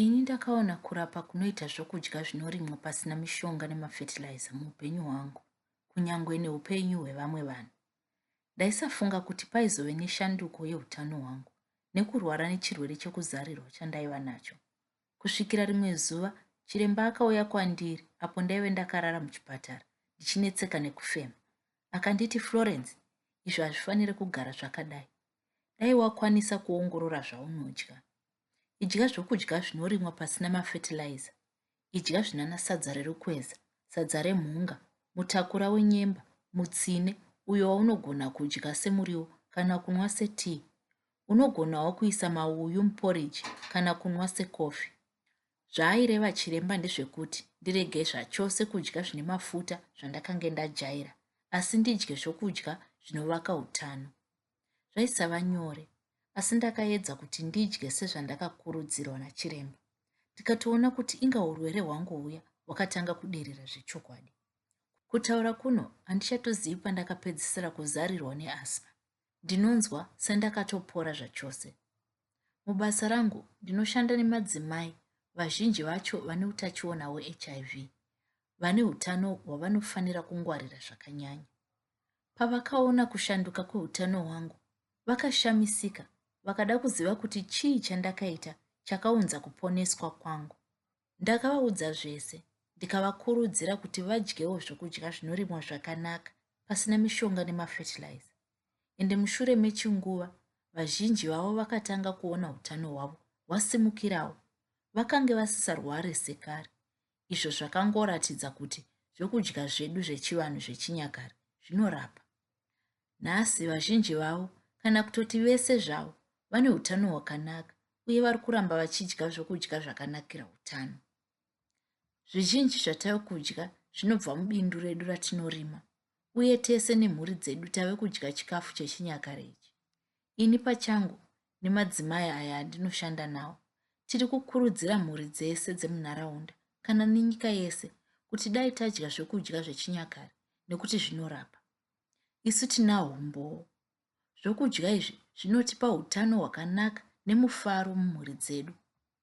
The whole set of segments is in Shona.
Ini ndakaona kurapa kunoita zvokudya zvinorimwa pasina mishonga nemafertilizer muupenyu hwangu, kunyange neupenyu hwevamwe vanhu. Ndaisafunga kuti paizove neshanduko yeutano hwangu nekurwara nechirwere chekuzarirwa chandaiva nacho. Kusvikira rimwe zuva, chiremba akauya kwandiri apo ndaive ndakarara muchipatara ndichinetseka nekufema. Akanditi, Florence, izvo hazvifanire kugara zvakadai. Dai wakwanisa kuongorora zvaunodya. Idya zvokudya zvinorimwa pasina mafetilaiza. Idya zvinana sadza rerukweza, sadza remhunga, mutakura wenyemba, mutsine, uyo waunogona kudya semuriwo kana kunwa setii. Unogonawo kuisa mauyu muporiji kana kunwa sekofi. Zvaaireva chiremba ndezvekuti ndirege zvachose kudya zvine mafuta zvandakange ndajaira, asi ndidye zvokudya zvinovaka utano. Zvaisava nyore, asi ndakaedza kuti ndidye sezvandakakurudzirwa nachiremba. Ndikatoona kuti inga urwere hwangu huya hwakatanga kuderera zvechokwadi. Kutaura kuno handichatozivi pandakapedzisira kuzarirwa neasma. Ndinonzwa sendakatopora zvachose. Mubasa rangu ndinoshanda nemadzimai vazhinji vacho vane utachiona hweHIV vane utano hwavanofanira kungwarira zvakanyanya. Pavakaona kushanduka kweutano hwangu, vakashamisika vakada kuziva kuti chii chandakaita chakaunza kuponeswa kwangu. Ndakavaudza zvese ndikavakurudzira kuti vadyewo zvokudya zvinorimwa zvakanaka pasina mishonga nemafertilizer. Ende mushure mechinguva vazhinji vavo vakatanga kuona utano hwavo hwasimukirawo. Vakange vasisarware sekare. izvo zvakangoratidza kuti zvokudya zvedu zvechivanhu zvechinyakare zvinorapa. Nhasi vazhinji vavo, kana kutoti vese zvavo, vane utano hwakanaka uye vari kuramba vachidya zvokudya zvakanakira utano. Zvizhinji zvatave kudya zvinobva mubindu redu ratinorima, uye tese nemhuri dzedu tave kudya chikafu chechinyakare ichi. Ini pachangu nemadzimai aya andinoshanda nawo tiri kukurudzira mhuri dzese dzemunharaunda kana nenyika yese kuti dai tadya zvekudya zvechinyakare nekuti zvinorapa isu tinawo umbowo zvokudya izvi zvinotipa utano hwakanaka nemufaro mumhuri dzedu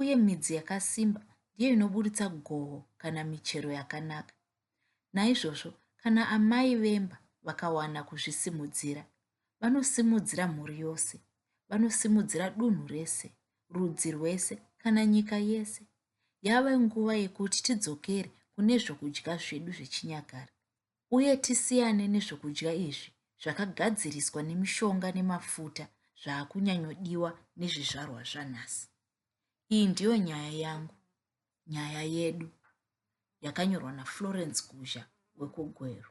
uye midzi yakasimba ndiyo inoburitsa goho kana michero yakanaka. Naizvozvo, kana amai vemba vakawana kuzvisimudzira, vanosimudzira mhuri yose, vanosimudzira dunhu rese, rudzi rwese, kana nyika yese. Yave nguva yekuti tidzokere kune zvokudya zvedu zvechinyakare. uye tisiyane nezvokudya izvi zvakagadziriswa nemishonga nemafuta zvaakunyanyodiwa nezvizvarwa zvanhasi. Iyi ndiyo nyaya yangu, nyaya yedu, yakanyorwa naFlorence Guzha wekuGweru.